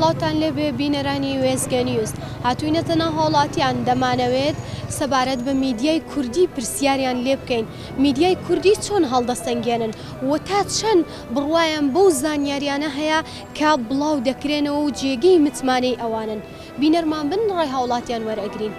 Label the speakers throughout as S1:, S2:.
S1: سڵاوتان لێبێ بینەرانی وێزگە نیوز هاتوینەتە ناو هاوڵاتیان دەمانەوێت سەبارەت بە میدیای کوردی پرسیاریان لێ بکەین میدیای کوردی چۆن هەڵدەسەنگێنن و تا چەند بڕواان بەو زانیاریانە هەیە کە بڵاو دەکرێنەوە و جێگەی متمانەی ئەوانن. بینەرمان بن ڕای هاوڵاتیان وەرئەگرین.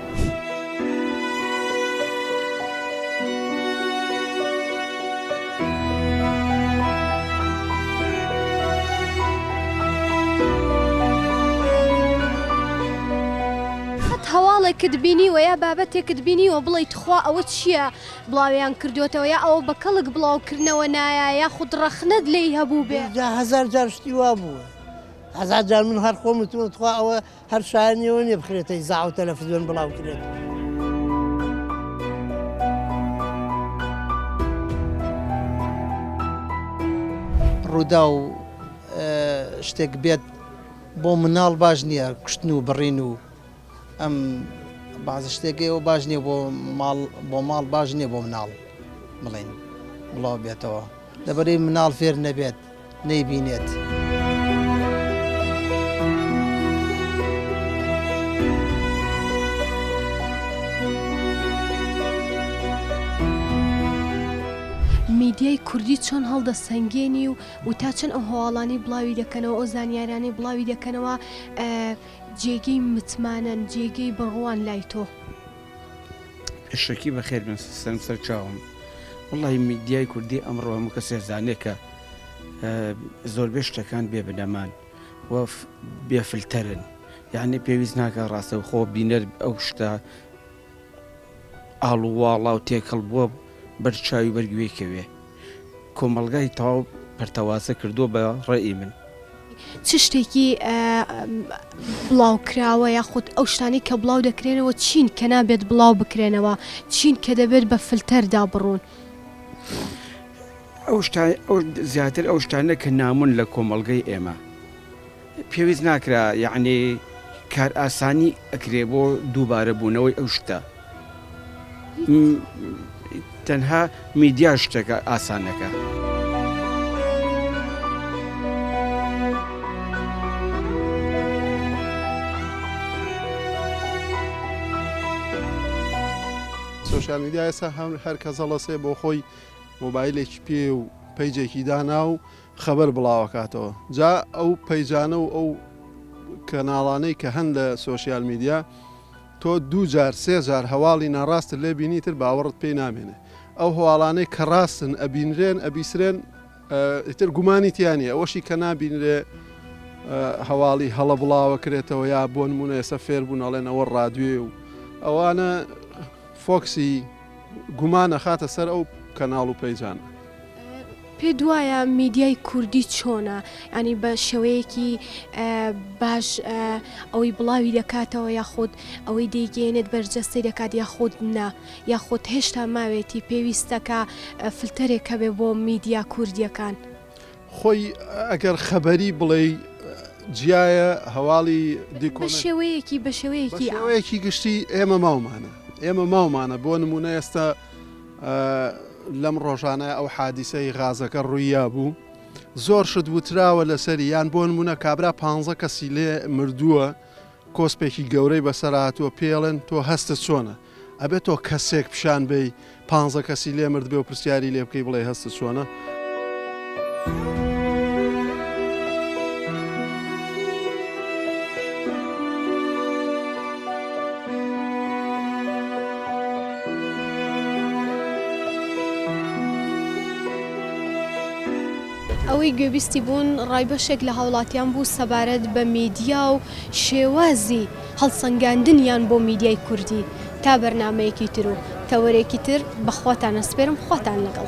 S1: قەت هەواڵێکت بینیوە یا بابەتێکت بینیوە بڵێی تخوا ئەوە چیە؟ بڵاویان کردووەتەوە یا ئەوە بە کەڵک بڵاو کردنەوە نایە یاخود ڕەخنەت لێی هەبووبێ؟ جا هەزار جار شتی
S2: وا بووە هەزار جار من هەر خۆم وتووە تخوا ئەوە هەر شایەنی ئەوە نیە بخرێتە ئیزاع و تەلەفزیۆن بڵاو کرێت. ڕووداو، شتێک بێت بۆ مناڵ باش نییە کوشتن و بڕین و ئەم بازە شتێکی ئەوە باش نییە بۆ ماڵ بۆ ماڵ باش نییە بۆ مناڵ بڵین بڵاو بێتەوە لەبەری مناڵ فێر نەبێت نەیبینێت.
S1: میدیای کوردی چۆن هەڵدەسەنگێنی و و تا چەند ئەو هەواڵانی بڵاوی دەکەنەوە ئەو زانیارانەی بڵاوی دەکەنەوە جێگەی متمانەن جێگەی بڕوان لای تۆ. شەکی
S3: بەخێر بێن سەرم سەر چاوم وەڵی میدیای کوردی ئەمڕۆ هەموو کەسێ زانێکە زۆربێ شتەکان بێ بنەمان و بێفلتەرن یعنی پێویست ناکە ڕاستەوخۆ بینەر ئەو شتە ئاڵ و واڵا و تێکەڵ بووە بەر چاوی بەر گوێی کەوێ کۆمەڵگای تەواو پەرتەوازە کردووە بە ڕەئی من. چ
S1: شتێکی بڵاوکراوە یاخود ئەو شتانەی کە بڵاو دەکرێنەوە چین کە نابێت بڵاو بکرێنەوە چین کە دەبێت بە فلتەردا بڕوون؟
S3: ئەو شتانە زیاتر ئەو شتانە کە نامۆن لە کۆمەڵگەی ئێمە. پێویست ناکرا یەعنی کار ئاسانی ئەکرێ بۆ دووبارە بوونەوەی ئەو شتە م تەنها میدیا شتەکە ئاسانەکە.
S4: سۆشیال میدیا ئێستا هەر کەس هەڵەسێ بۆ خۆی مۆبایلێکی پێ و پەیجێکی دانا و خەبەر بڵاوەکاتەوە جا ئەو پەیجانە و ئەو کەناڵانەی کە هەن لە سۆشیال میدیا تۆ دوو جار سێ جار هەواڵی ناڕاستت لێ بینی تر باوەڕت پێی نامێنێ ئەو هەواڵانەی کە ڕاستن ئەبینرێن ئەبیسرێن ئیتر گومانی تیانی ئەوەشی کە نابینرێ هەواڵی هەڵە بڵاوە کرێتەوە یا بۆ نمونە ئێستا فێر بوون ئەڵێن ئەوە ڕادوێ و ئەوانە فۆکسی گومان ئەخاتە سەر ئەو کەناڵ و پەیجانە.
S1: پێت وایە میدیای کوردی چۆنە ینی بە شێوەیەکی باش ئەوەی بڵاوی دەکاتەوە یاخود ئەوەی دەیگەێنێت بەرجەستی دەکات یاخود نا یاخود هێشتا ماوێتی پێویستەکە فلتەرێکە بێ بۆ میدیا کوردیەکان.
S4: خۆی ئەگەر خەبەری بڵێی جیایە هەواڵی دیکۆ. بە
S1: شێوەیەکی بە شێوەیەکی
S4: ئا. بە شێوەیەکی گشتی ئێمە ماومانە ئێمە ماومانە بۆ نموونە ئێستا لەم ڕۆژانە ئەو حادیسەی غازەکە ڕوویا بوو زۆر شت وتراوە لەسەری یان بۆ نموونە کابرا پ کەسی لێ مردووە کۆسپێکی گەورەی بەسەرهاتووە پێڵێن تۆ هەستە چۆنە ئەبێ تۆ کەسێک پیشان بەی پانزە کەسی لێ مردبێ و پرسیاری لێ بکەی بڵێ هەستت چۆنە؟
S1: ئەوەی گوێبیستی بوون ڕای بەشێک لە هاوڵاتیان بوو سەبارەت بە میدیا و شێوازی هەڵسەنگاندنیان بۆ میدیای کوردی تا بەرنامەیەکی تر و تەوەرێکی تر بە خواتان ئەسپێرم خواتان لەگەڵ.